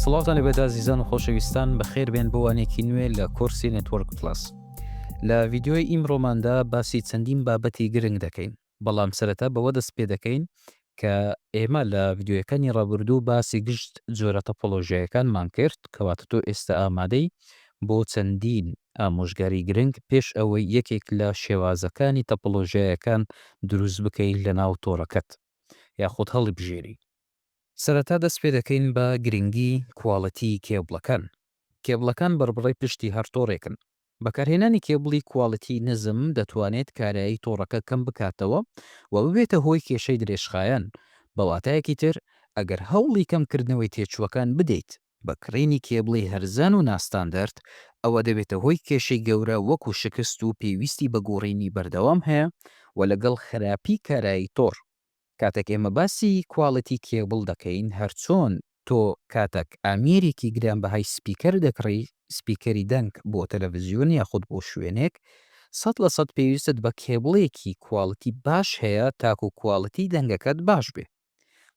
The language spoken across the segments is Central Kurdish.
سڵاوتان لەبێت ئازیزان و خۆشەویستان بەخێر بێن بۆ وانێکی نوێ لە کۆرسی نێتوەرک پلاس لە ڤیددیوی ئیمڕۆماندا باسی چەندین بابەتی گرنگ دەکەین بەڵام سەرەتا بەوە دەست پێ دەکەین کە ئێمە لە ڤیدیۆیەکانی ڕابوردوو باسی گشت جۆرە تەپۆلۆژیایەکانمان کرد کەواتە تۆ ئێستا ئامادەی بۆ چەندین ئامۆژگاری گرنگ پێش ئەوەی یەکێک لە شێوازەکانی تەپۆلۆژیایەکان دروست بکەی لە ناو تۆڕەکەت یاخود هەڵیبژێری. سەرەتا دەست پێ دەکەین بە گرنگی کواڵێتی کێبڵەکان. کێبڵەکان بەڕبڕەی پشتی هەر تۆڕێکن بەکارهێنانی کێبڵی کواڵیتی نزم دەتوانێت کارایی تۆڕەکە کەم بکاتەوە و ببێتە هۆی کێشەی درێژخایەن، بە واتایەکی تر ئەگەر هەوڵی کەمکردنەوەی تێچووەکان بدەیت، بە کڕینی کێبڵی هەرزان و ناستاندەرد، ئەوە دەبێتە هۆی کێشەی گەورە وەکو شکست و پێویستی بە گۆڕینی بەردەوام هەیە و لەگەڵ خراپی کارایی تۆڕ. کاتێک ئێمە باسی کواڵیتی کێبڵ دەکەین هەرچۆن تۆ کاتەک ئامێرێکی گرانبەهای سپیکەر دەکڕی، سپیکەری دەنگ بۆ تەلەڤزیۆن یاخود بۆ شوێنێک، سەد لە سەد پێویستت بە کێبڵێکی کواڵیتی باش هەیە تاکو کواڵیتی دەنگەکەت باش بێ.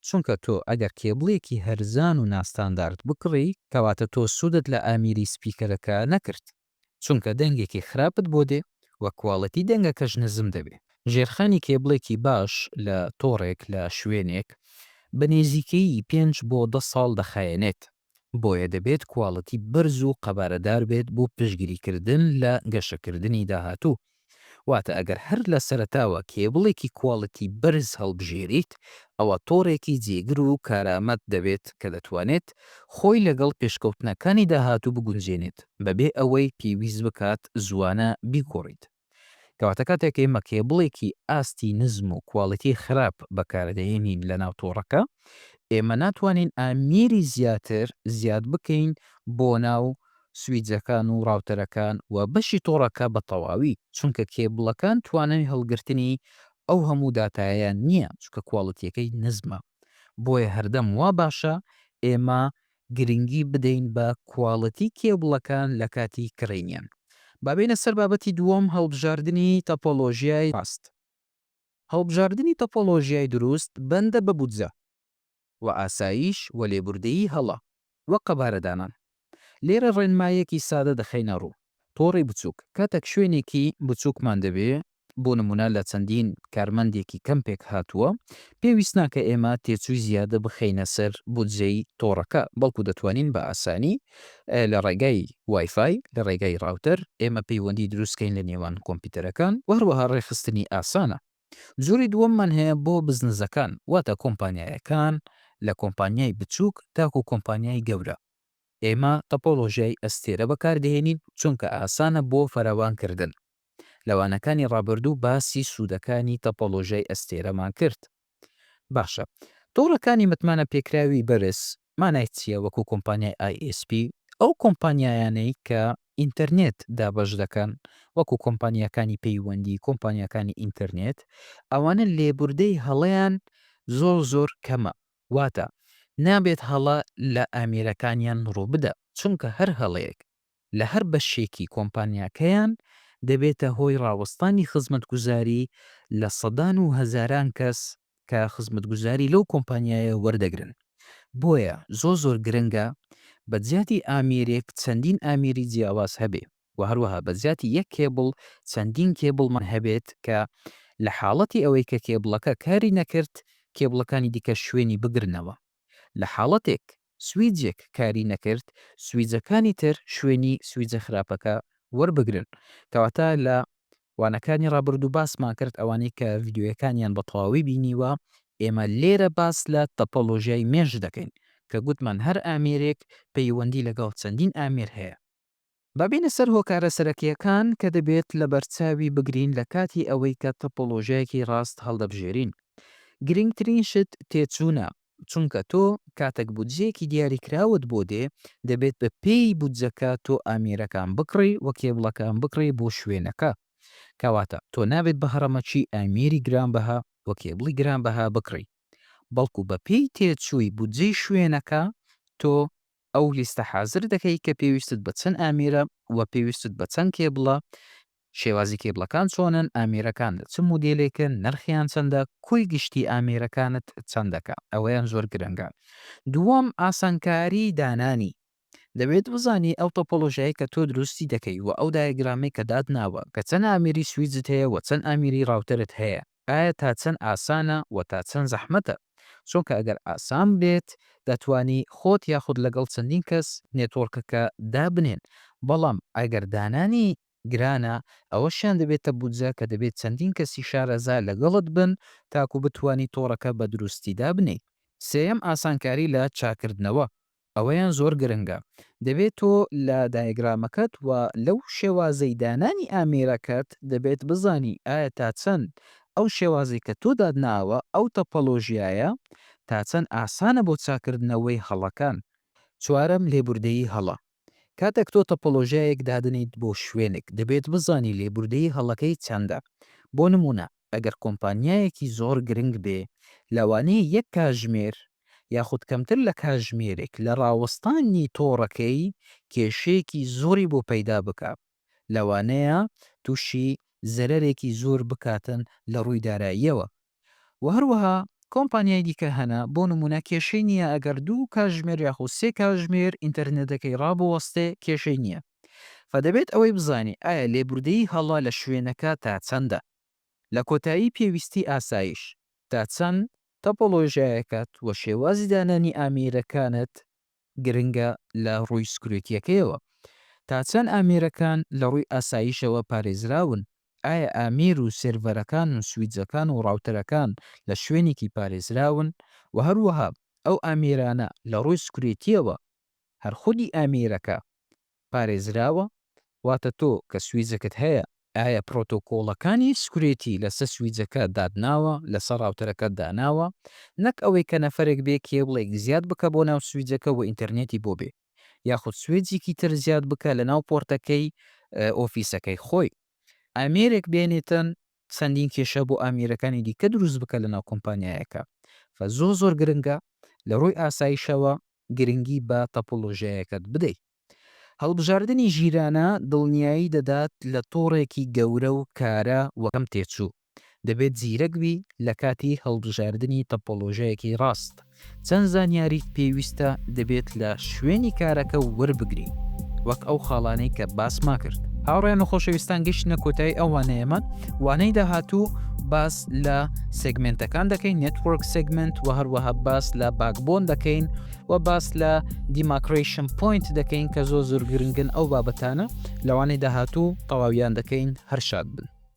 چونکە تۆ ئەگەر کێبڵێکی هەرزان و ناستاندارد بکڕی کەواتە تۆ سوودت لە ئامیری سپیکەرەکە نەکرد. چونکە دەنگێکی خراپت بۆ دێ و کواڵێتی دەنگەکەش نزم دەبێ. ژێرخانی کێبڵێکی باش لە تۆڕێک لە شوێنێک بە نێزیکەیی پێنج بۆ دە ساڵ دەخایەنێت، بۆیە دەبێت کواڵێتی بەرز و قەبارەدار بێت بۆ پشتگیریکردن لە گەشەکردنی داهاتوو. واتە ئەگەر هەر لە سەرەتاوە کێبڵێکی کواڵیتی بەرز هەڵبژێریت ئەوا تۆڕێکی جێگر و کارامەت دەبێت کە دەتوانێت خۆی لەگەڵ پێشکەوتنەکانی داهاتوو بگونجێنێت بەبێ ئەوەی پێویست بکات زوانە بیگۆڕیت کەواتە کاتێک ئێمە کێبڵێکی ئاستی نزم و کواڵیتی خراپ بەکاردەهێنین لەناو تۆڕەکە ئێمە ناتوانین ئامیری زیاتر زیاد بکەین بۆ ناو سویچەکان و ڕاوتەرەکان و بەشی تۆڕەکە بە تەواوی چونکە کێبڵەکان توانای هەڵگرتنی ئەو هەموو داتایەیان نییە چونکە کواڵیتیەکەی نزمە بۆیە هەردەم وا باشە ئێمە گرنگی بدەین بە کواڵیتی کێبڵەکان لە کاتی کڕینیان. با بێینە سەر بابەتی دووەم هەڵبژاردنی تەپۆلۆژیای ڕاست. هەڵبژاردنی تەپۆلۆژیای دروست بەندە بە بودجە. و ئاساییش و لێبوردەیی هەڵە و قەبارەدانان. لێرە ڕێنمایەکی سادە دەخەینە ڕوو، تۆڕی بچووک، کاتێک شوێنێکی بچووکمان دەوێ، بۆ نموونە لە چەندین کارمەندێکی کەم پێکهاتووە، پێویست ناکا ئێمە تێچووی زیادە بخەینە سەر بودجەی تۆڕەکە، بەڵکوو دەتوانین بە ئاسانی لە ڕێگای وایفای، لە ڕێگای ڕاوتەر ئێمە پەیوەندی دروست کەین لە نێوان کۆمپیوتەرەکان و هەروەها ڕێکخستنی ئاسانە. جۆری دووەممان هەیە بۆ بزنزەکان واتە کۆمپانیایەکان لە کۆمپانیای بچووک تاکو کۆمپانیای گەورە ئێمە تۆپۆلۆژیای ئەستێرە بەکاردەهێنین چونکە ئاسانە بۆ فراوان کردن لەوانەکانی ڕابردوو باسی سوودەکانی تۆپۆلۆژیای ئەستێرەمان کرد باشە تۆڕەکانی متمانە پێکراوی بەرز مانای چیە وەکو کۆمپانیای ئای ئێس پی؟ ئەو کۆمپانیایانەی کە ئینتەرنێت دابەش دەکەن وەکو کۆمپانیاکانی پەیوەندی، کۆمپانیاکانی ئینتەرنێت ئەوانە لێبوردەی هەڵەیان زۆر زۆر کەمە واتە نابێت هەڵە لە ئامێرەکانیان ڕووبدا چونکە هەر هەڵەیەک لە هەر بەشێکی کۆمپانیاکەیان دەبێتە هۆی ڕاوەستانی خزمەتگوزاری لە سەدان و هەزاران کەس کە خزمەتگوزاری لەو کۆمپانیایە وەردەگرن بۆیە زۆر زۆر گرنگە بە جیاتی ئامێرێک چەندین ئامێری جیاواز هەبێ و هەروەها بە جیاتی یەک کێبڵ چەندین کێبڵمان هەبێت کە لە حاڵەتی ئەوەی کە کێبڵەکە کاری نەکرد کێبڵەکانی دیکە شوێنی بگرنەوە لە حاڵەتێک سویجێک کاری نەکرد سویجەکانی تر شوێنی سویجە خراپەکە وەربگرن کەواتە لە وانەکانی ڕابردوو باسمان کرد ئەوانەی کە ڤیدیۆیەکانیان بە تەواوی بینیوە ئێمە لێرە باس لە تەپەڵۆژیای مێش دەکەین کە گوتمان هەر ئامێرێک پەیوەندی لەگەڵ چەندین ئامێر هەیە با بێینە سەر هۆکارە سەرەکییەکان کە دەبێت لەبەرچاوی بگرین لە کاتی ئەوەی کە تۆپۆلۆژیایەکی ڕاست هەڵدەبژێرین. گرنگترین شت تێچوونە، چونکە تۆ کاتەک بودجەیەکی دیاریکراوت بۆ دێ، دەبێت بە پێی بودجەکە تۆ ئامێرەکان بکڕی و کێبڵەکان بکڕی بۆ شوێنەکە. کەواتە تۆ نابێت بە هەڕەمەکی ئامێری گرانبەها و کێبڵی گرانبەها بکڕی، بەڵکو بە پێی تێچووی بودجەی شوێنەکە تۆ ئەو لیستە حازر دەکەی کە پێویستت بە چەند ئامێرە وە پێویستت بە چەند کێبڵە، شێوازی کێبڵەکان چۆنن، ئامێرەکان لە چ مودێلێکن، نرخیان چەندە، کۆی گشتی ئامێرەکانت چەند دەکا، ئەوەیان زۆر گرنگە. دووەم، ئاسانکاری دانانی، دەبێت بزانی ئەو تۆپۆلۆژیایەی کە تۆ دروستی دەکەی وە ئەو دایەگرامەی کە داتناوە کە چەند ئامێری سویچت هەیە وە چەند ئامێری ڕاوتەرت هەیە، ئایا تا چەند ئاسانە و تا چەند زەحمەتە؟ چونکە ئەگەر ئاسان بێت دەتوانی خۆت یاخود لەگەڵ چەندین کەس نێتۆرکەکە دابنێن بەڵام ئەگەر دانانی گرانە ئەوەشیان دەبێتە بودجە کە دەبێت چەندین کەسی شارەزا لەگەڵت بن تاکو بتوانی تۆڕەکە بە دروستی دابنێی. سێیەم ئاسانکاری لە چاکردنەوە، ئەوەیان زۆر گرنگە. دەبێت تۆ لە دایەگرامەکەت و لەو شێوازەی دانانی ئامێرەکەت دەبێت بزانی ئایا تا چەند ئەو شێوازەی کە تۆ داتناوە، ئەو تەپەڵۆژیایە تا چەند ئاسانە بۆ چاککردنەوەی هەڵەکان. چوارەم، لێبوردەیی هەڵە. کاتێک تۆ تەپەڵۆژیایەک دادەنێیت بۆ شوێنێک، دەبێت بزانی لێبوردەیی هەڵەکەی چەندە. بۆ نموونە، ئەگەر کۆمپانیایەکی زۆر گرنگ بێ لەوانەیە یەک کاژمێر یاخود کەمتر لە کاژمێرێک لە ڕاوەستانی تۆڕەکەی کێشەیەکی زۆری بۆ پەیدا بکا لەوانەیە توشی زەرەرێکی زۆر بکاتن لە ڕووی داراییەوە وە هەروەها کۆمپانیای دیکە هەنە بۆ نمونە کێشەی نیە ئەگەر دوو کاژمێر یاخود سێ کاژمێر ئینتەرنێتەکەی ڕابوەستێ کێشەی نیە و دەبێت ئەوەی بزانی ئایا لێبوردەیی هەڵە لە شوێنەکە تا چەندە. لە کۆتایی پێویستی ئاسایش تا چەند تۆپۆلۆژیایەکەت و شێوازی دانانی ئامێرەکانت گرنگە لە ڕووی سکورێتیەکەیەوە. تا چەند ئامێرەکان لە ڕووی ئاسایشەوە پارێزراون، ئایا ئامێر و سێرڤەرەکان و سویچەکان و ڕاوتەرەکان لە شوێنێکی پارێزراون و هەروەها ئەو ئامێرانە لە ڕووی سکورێتیەوە هەر خودی ئامیرەکە پارێزراوە، واتە تۆ کە سویچەکەت هەیە، ئایا پرۆتۆکۆڵەکانی سکورێتی لەسەر سویچەکە داتناوە، لەسەر ڕاوتەرەکەت داناوە، نەک ئەوەی کە نەفەرێک بێ کێبڵێک زیاد بکا بۆ ناو سویچەکە و ئینتەرنێتی بۆ بێ، یاخود سوێجێکی تر زیاد بکا لەناو پۆرتەکەی ئۆفیسەکەی خۆی. ئامێرێک بێنێتن چەندین کێشە بۆ ئامیرەکانی دیکە دروست بکە لەناو کۆمپانیایەکە فە زۆر زۆر گرنگە لە ڕووی ئاسایشەوە گرنگی بە تەپۆلۆژیایەکەت بدەی هەڵبژاردنی ژیرانە دڵنیایی دەدات لە تۆڕێکی گەورە و کارا و کەم تێچوو دەبێت زیرەک بی لە کاتی هەڵبژاردنی تەپۆلۆژیایەکی ڕاست. چەند زانیاریت پێویستە دەبێت لە شوێنی کارەکە وەربگری وەک ئەو خاڵانەی کە باسما کرد. هاوڕێیان و خۆشەویستان گەشتنە کۆتایی ئەو وانەیەمان، وانەی داهاتوو باس لە سێگمێنتەکان دەکەین Network Segment و هەروەها باس لە باکبۆن دەکەین و باس لە دیماکرەیشن پۆینت دەکەین کە زۆر زۆر گرنگن ئەو بابەتانە لەوانەی داهاتوو تەواویان دەکەین هەر شاد بن.